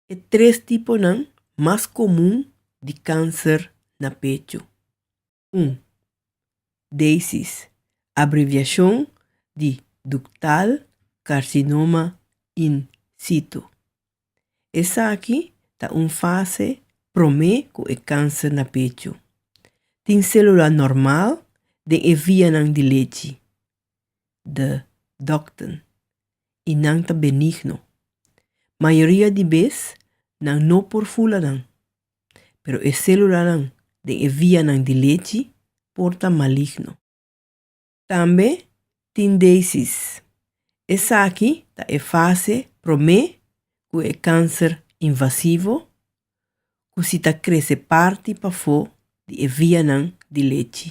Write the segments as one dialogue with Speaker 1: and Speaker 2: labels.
Speaker 1: E tres tiponan mas komun di kanser na pechu. Un. DACES, abreviashon di Duktal Karsinoma In Situ. Esaki ta un fase promé ku e kanser na pechu. Tin sélula normal den e vianan di lechi, de dokten i nan ta benigno. Mayoria di bes nan no por fula nan, pero e selulanan den e vianan di lechi por ta maligno. Tambe tin deisis. Esaki ta e fase promé ku e kanser invasivo ku si ta krese parti pafó di e vianan di lechi.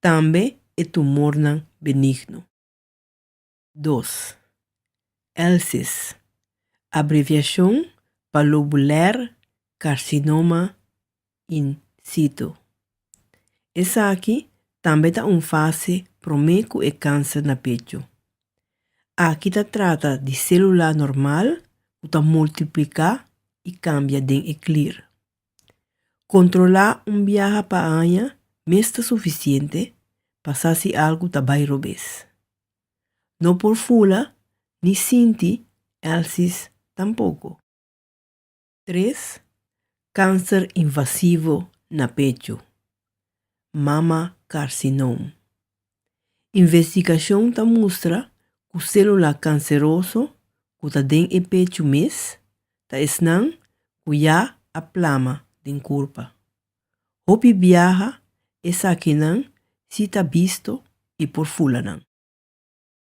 Speaker 1: tambe e tumornan benigno. Dos, LCIS, abreviashon pa lobuler carcinoma in situ. Esaki tambe ta un fase promé ku e kanser na pechu. Aki ta trata di sélula normal ku ta multipliká i kambia den e klir. Kontrolá un biaha pa aña mes ta sufisiente pa sa si algu ta bai robes. No por fula ni sinti èlsis tampoko. Tres, Kanser invasivo na pechu, mama karsinom. Investigashon ta mustra ku sélula kanseroso ku ta den e pechu mes ta esnan ku ya a plama den kurpa. Hopi biaha esakinan si ta bisto i por fula nan.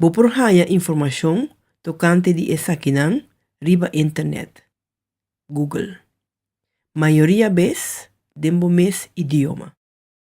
Speaker 1: Bo por haña informashon tokante di esakinan riba internet, Google, mayoria bes den bo mes idioma.